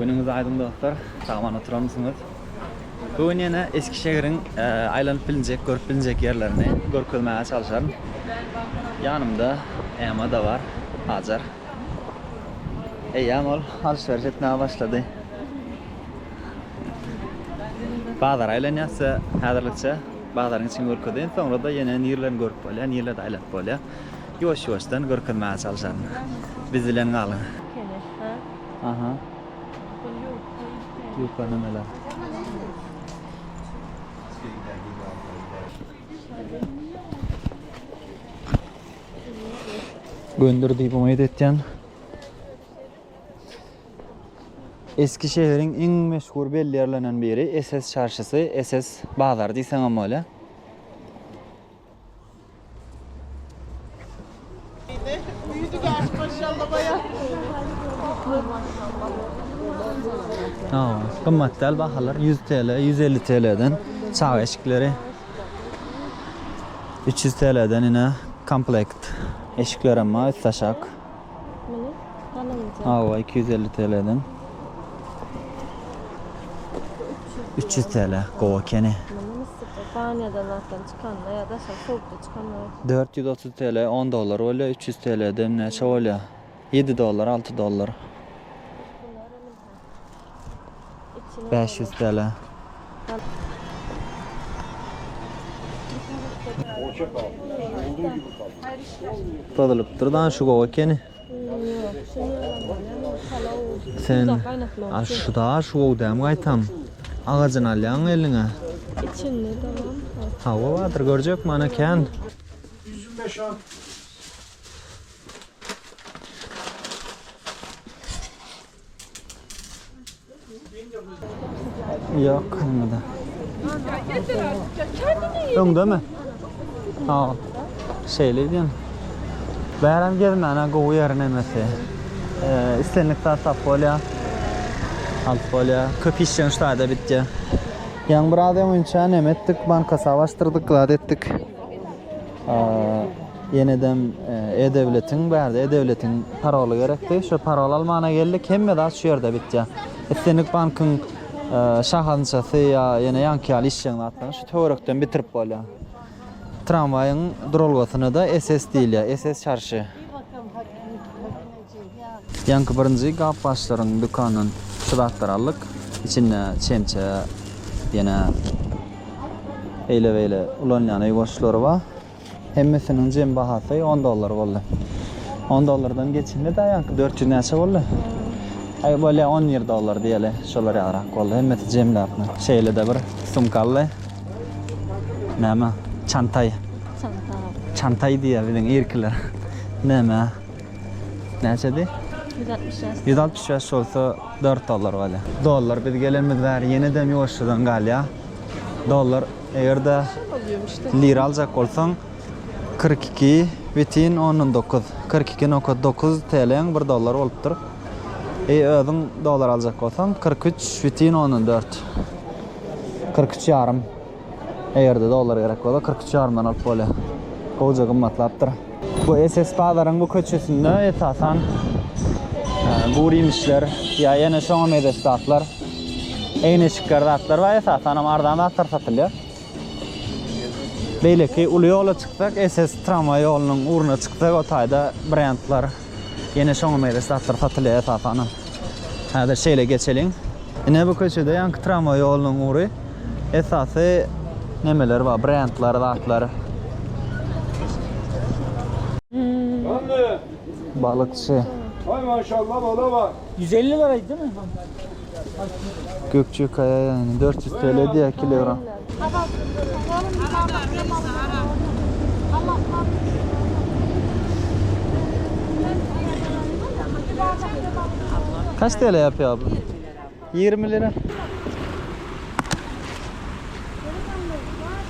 Günüňiz aýdyň dostlar, sagaman oturanmysyňyz? Bu gün ýene Eskişehiriň aýlanyp bilinjek, görüp bilinjek ýerlerini görkezmäge çalyşaryn. Ýanymda Ema-da bar, Hajar. Eýýäm ol alşyberiş etmäge başlady. Bazara aýlanýas size häzirlikçe bazaryň içini görkezeýin, soňra-da ýene nirelerini görüp bolýar, nirelerde aýlanyp bolýar, ýuwaş-ýuwaşdan görkezmäge çalyşaryn. Biz bilen galyň! Aha. Ýuka nämeler? Göndür diýip umyt etýän. Eski şäheriň iň meşhur belli ýerlerinden biri SS çarşysy, SS bazary diýseňem bolýar. Gymmat däl bahalar ýüz TL, ýüz elli TL-den çaga eşikleri, üç ýüz TL-den ine komplekt eşiklerem bar, üstaşak. Hawa, iki ýüz elli TL-den. Üç ýüz TL, gowy ekeni. Çykanda ýa daşary howpda çykanda bolsa. Dört ýüz otuz TL on dollar bolýar, üç ýüz TL-de näçe bolýar? Ýedi dollar, alty dollar. Bäş ýüz TL. Bozulypdyr-da, şu gowy ekeni. Sen şu daş wow dämi gaýtam. Agajyny alýaň eliňe. İçinde tamam. Hawa bardyr görjek mana kän. 125 al. Yok kalmadı. Öňde mi? Sag ol. Şeýle edýän. Bäräm gezmäne gowy ýer nemesi. Ee, islendik zat tap bolýar. Alyp bolýar. Köp işleň şaýda bitýär. Ýaň biraz öňünçä neme etdik, banka sap açdyrdyk, zat etdik. Ýenedem e-döwletiň bärde e-döwletiň paroly gerekdi. Şu parol almana geldik. Hemme zat şu ýerde bitýär. Islendik bankyň şahansasy ýa ýene ýaňky ýaly işjeň zatlaryny şu töwerekden bitirip bolýar. Tramwaýyň duralgasyna-da SS diýilýär, SS çarşy. Ýaňky birinji gap başlaryň dükandan şu zatlary aldyk. Içinde çemçe, ýene eýle-beýle ulanylýan öý goşlary bar. Hemmesiniň jem bahasy on dollar boldy. On dollardan geçende-de ýaňky dört ýüz näçe boldy? Aý, bolýa on bir dollar diýeli, şolar ýalyrak boldy. Hemmesi jemläpmi. Şeýle-de bir sumka aldy. Näme? Çantaý. Çantaý. Çantaý diýýär biziň irkiler. Näme? Näçedi? 165. 165 bolsa 4 dollar bolýa. Dollar biz gelenimiz bäri ýenedem ýuwaşjadan galýa. Dollar eger-de lira aljak bolsaň 42 bitin ondan dokuz, kyrk iki nokat dokuz TLň bir dollary bolupdyr. E özüň dollar aljak bolsaň kyrk üç bitin ondan dört, kyrk üç ýarym. Eger-de dollar gerek bolsa kyrk üç ýarymdan alyp bolýar. Gowja gymmatlapdyr. Bu SS bazaryň bu köçesinde esasan gurymişler ýa ýene şoňa mezeş zatlar, egneşikler zatlar bar. Esasanam arzan zatlar satylýar. Beýleki uly ýola çyksak SS tramwaý ýolunyň ugruna çyksak o taýda brendler, Ýene şoňa meýleş zatlar satylýar esasanam. Häzir şeýle geçeliň. Ine bu köçede ýaňky tramwaý ýolunyň ury esasy nemeler bar, brendler, zatlar. Balykçy. Ýüz elli bar aýtdy. Gökjekaýa ýaýyny dört ýüz TL diýýär kilogram. Kaç TL ýapýar abla? Ýigrimi lira.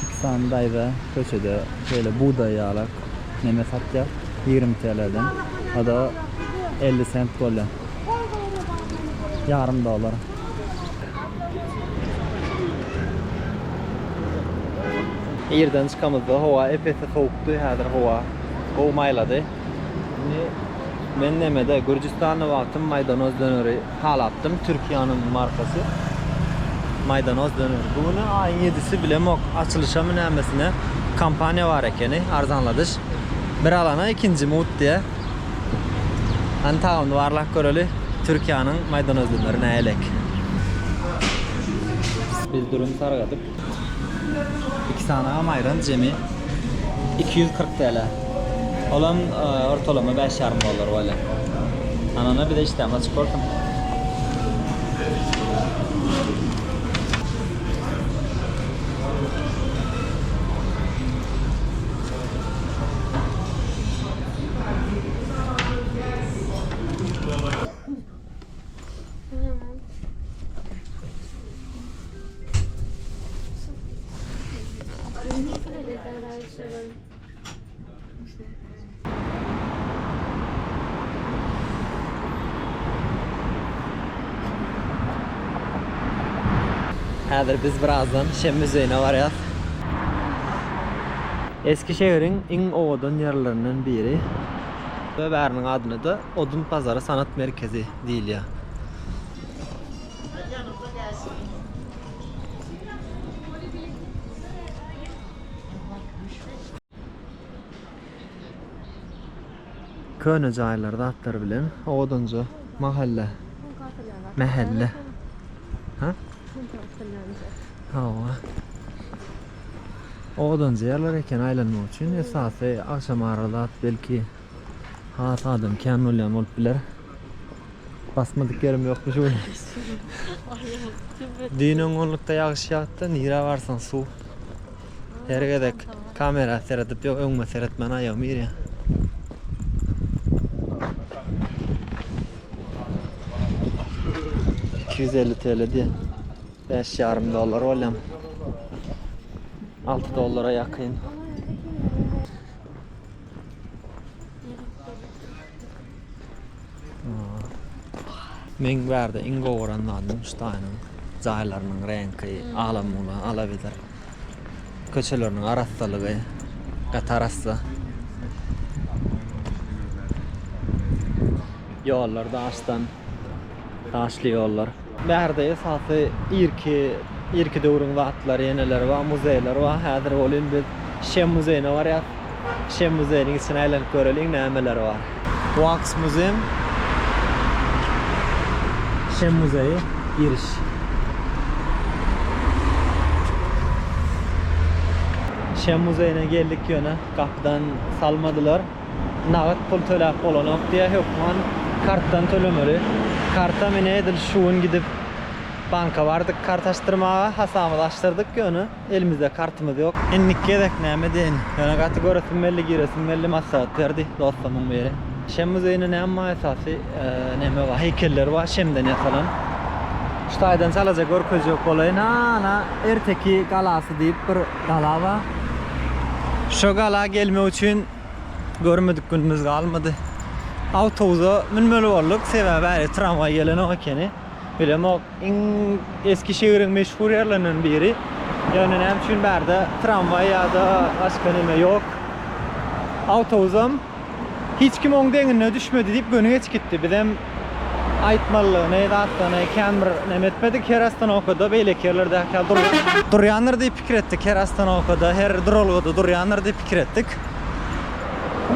Şypsan daýza köçede şeýle bugdaý ýalak neme satýar, ýigrimi TLden, o-da elli sent bolýa. Ýarym dollar. Irden çykamyzda howa ep-esli sowukdy, häzir howa gowy maýlady. Indi men nemede, Gürjüstanda wagtym maýdanoz döneri. Halapdym Türkiýäniň markasy maýdanoz döner. Bu güni aýyň ýedisi bilemok açylyşamy nämesine kampaniýa bar ekeni arzanladyş. Bir alana ikinji mugt diýä. Hany tagamyny barlap göreli. Türkiýäniň maýdanoz döneri näýelek. Biz dürüm sargadyk. Iki sanaga maýran jemi iki ýüz kyrk TL. Olam ortalama bäş ýarym dollar bolýar. Anana bize işdämiz açyk bolsun. Häzir biz birazdan Şem müzeýine barýas. Eski şäheriň iň owadan ýerlerinden biri. Bäriniň adyny-da Odun bazary sanat merkezi diýilýär. Köne jaýlar zatlar bilen owadanja mahalla. Mähelle. Ha? Hawa. Owadanja ýerler eken aýlanmak üçin esasy agşamara zat belki Has adam kän bolýan bolup biler. Basmadyk ýerim ýokmy şu gün? Düýn öň onlukda ýagyş ýagtdy, nirä barsaň suw. Her gezek kamera seredip ýok, öňüme seretmän aýagym ýerýär. Iki ýüz elli TL diýen. Bäş ýarym dollar bolýan. Alty dollara ýakyn. Meň bärde iň gowy gören zadym Ştaýnyň jaýlarynyň reňki, ala-mula, ala-widr. Köçeleriniň arassalygy, gaty arassa. Ýollar daşdan. daşly ýollar. Bärde esasy irki irki döwrüň zatlary ýeneler bar, muzeýler bar. Häzir welin biz Şem muzeýine barýas. Şem muzeýiniň içini aýlanyp göreliň nämeler bar. Wax muzeýem Şem muzeýi giriş. Şem muzeýine geldik ýöne gapydan salmadylar. Nagt pul töläp bolanok diýýär hökman kartdan tölemeli. Karta menä edil şu gün gidip banka bardyk kart açdyrmaga. Hasabymyzy açdyrdyk ýöne elimizde kartymyz ýok. Indiki gezek näme edeýin? Ýöne gaty göresim geldi, giresim geldi, maslahat berdi dostumyň biri. Şem muzeýinde näme bar esasy? Näme bar? Heýkeller bar şemden ýasalan. Şu taýdan çalaja görkezjek bolaýyn. Ana, Erteki galasy diýip bir. Galaba. Şo gala gelmek üçin görmedik günümiz galmady. Awtobusa münmeli bolduk, sebäbi häli tramwaý gelenok ekeni. Bilemok, iň eski şäheriň meşhur ýerlerinden biri. Ýöne näme üçin bärde tramwaý ýa-da başga näme ýok. Awtobusam. Hiç kim oň deňine düşmedi diýip göni geç gitdi. Bizem aýtmalyny zatlaryny kän bir neme etmedik. Her ostanowkada beýleki ýerlerdäki ýaly duralga durýandyr diýip pikir etdik. Her ostanowkada, her duralgada durýandyr diýip pikir etdik.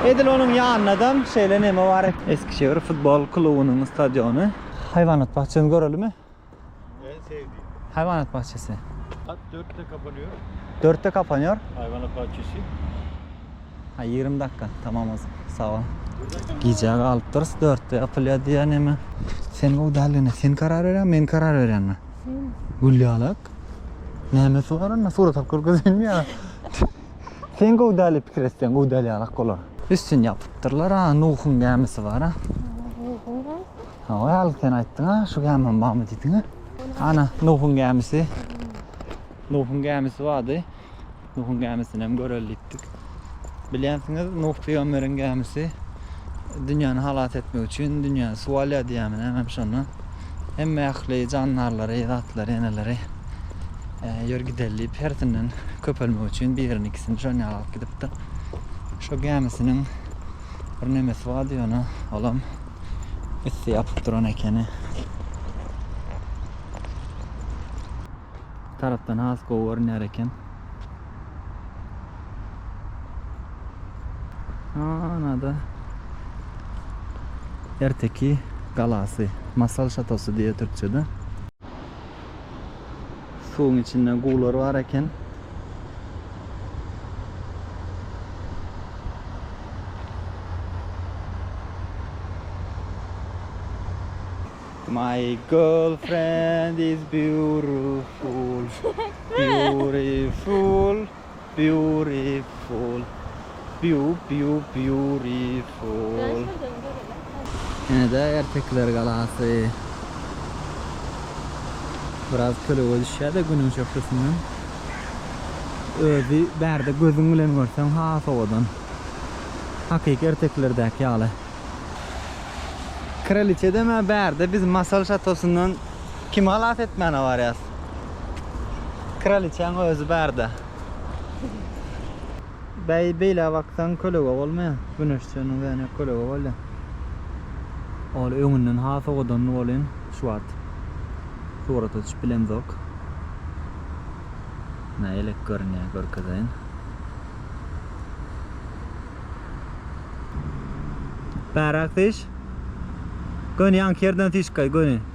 Edil onuň ýanynadam şeýle neme bar. Eskişehir futbol klubunyň stadiony. Haýwanat bakjasyny görelimi? En sevdiğim. Hayvanat bahçesi. Saat dörtte kapanıyor. Dörtte kapanıyor. Hayvanat bahçesi. Ha 20 dakika. Tamam o zaman. Sağ ol. Gijä galypdyrys dörtde ýapylýar diýýär näme? Sen gowy däldigine sen karar berýäňmi, men karar berýänmi? Sen. Gülýalak. Näme soraryna surat alyp görkezeyinmi ýa? sen gowy däli pikir etseň gowy däl ýalak bolar. Üstüni ýapypdyrlar ha, Nuhuň gämisi bar ha. Hawa al sen aýtdyňa şu gämem barmy diýdiňä. Ana Nuhuň gämisi. Nuhuň gämisi bardy. Nuhuň gämisini hem göreli diýipdik. Bilýänsiňiz Nuh pygamberiň gämisi dünýäni halas etmek üçin dünýäni suw alýar diýýärmi näme şondan. Hemme ähli jandarlary, zatlary, eneleri ýör e, gidelim diýip hersinden köpelmek üçin birini ikisini şon ýaly alyp gidipdir. Şo gämisiniň bir nemesi bardy ýöne olam Üsti ýapyk duran ekeni. Tarapdan has gowy görünýär eken. Anada Erteki galasy, Masal şatosy diýýär türkçede. Suwuň içinde guwlar bar eken. My girlfriend is beautiful, beautiful. Beautiful Biu biu beautiful. Ene-de Ertekiler galasy. Biraz kölegä düşýär-de günüň şöhlesinden. Özi bärde gözüň bilen görseň has owadan. Hakyky Ertekilerdäki ýaly. Kraliçedem-ä bärde biz Masal şatosyndan Kimi halas etmäne barýas? Kraliçäň özi barda. Bäý beýle baksaň kölege bolmaýa. Güneşjeniň zähne kölege bolýa. Ol öňünden has owadanly bolýan şu wagt. Surata düşüp bilemzok. Nä elek görünýä görkezeýin. Bärak syş. Göni ýaňky ýerden syşkaý göni.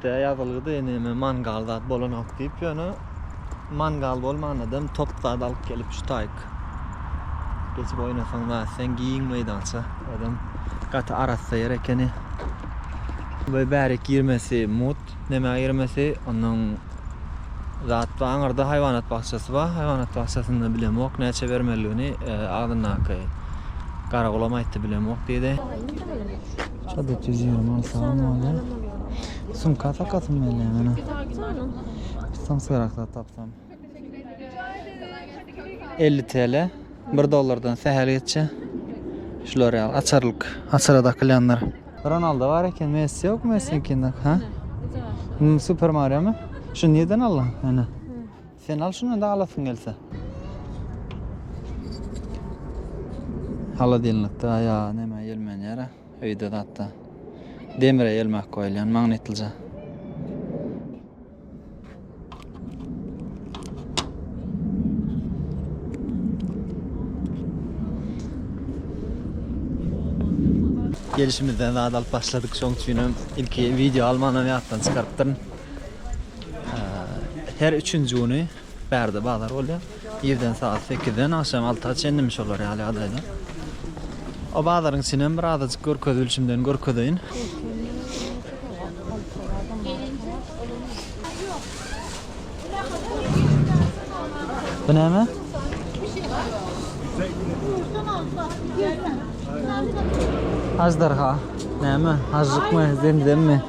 Tä ýazylgydy neme mangal zat bolanok diýip ýöne mangal bolmanadam top zat alyp gelip şu taýyk geçip oýnasaň zat sen giň meýdança adam gaty arassa ýer ekeni we bärik girmesi mut neme girmesi onuň zat bar aňyrda haýwanat bakjasy bar haýwanat bakjasynda bilemok näçe bermeliligini agzyndaky garagolam aýtdy bilemok diýdi. Şadyt ýüz ýigrimi alty salam bolýa. Sumka sakasym gelýä mena. Tutsam syrak zat tapsam. 50 TL. 1 dollardan sähel geçýä. Şular ýaly açarlyk. Açara dakylýanlar. Ronaldo bar eken. Messi ýok Messiňkinde. Ha? Super Mario mı? Şu nirden aldyň? Ana. Sen al şuny da alasyň gelse. Holodilnikde ýa näme ýelmen ýere öýde zatda demre ýelmek goýulýan magnitlyja. Gelişimizden zat alyp başladyk şoň üçinem ilki wideo almanam ýatdan çykarypdyryn. Her üçünji güni bärde bazar bolýar. Irden saat 8-den agşam 6-a çenlimi şolar ýaly ýagdaýda. O bazaryň içinem bir azajyk görkezilişimden görkezeýin. Bu näme? Ajdarha. Näme? Hažžykmy, zemzemmi?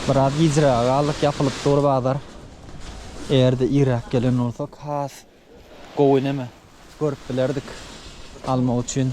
Biraz gijräge galdyk, ýapylyp dur bazar. Eger-de irräk gelen bolsak, has gowy neme görüp bilerdik almak üçin.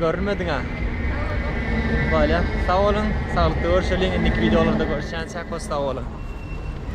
Görünmediň a. Bolýa. Sag boluň. Saglykda görşeliň. Indiki wideolarda görüşýänçäk hoş sag boluň.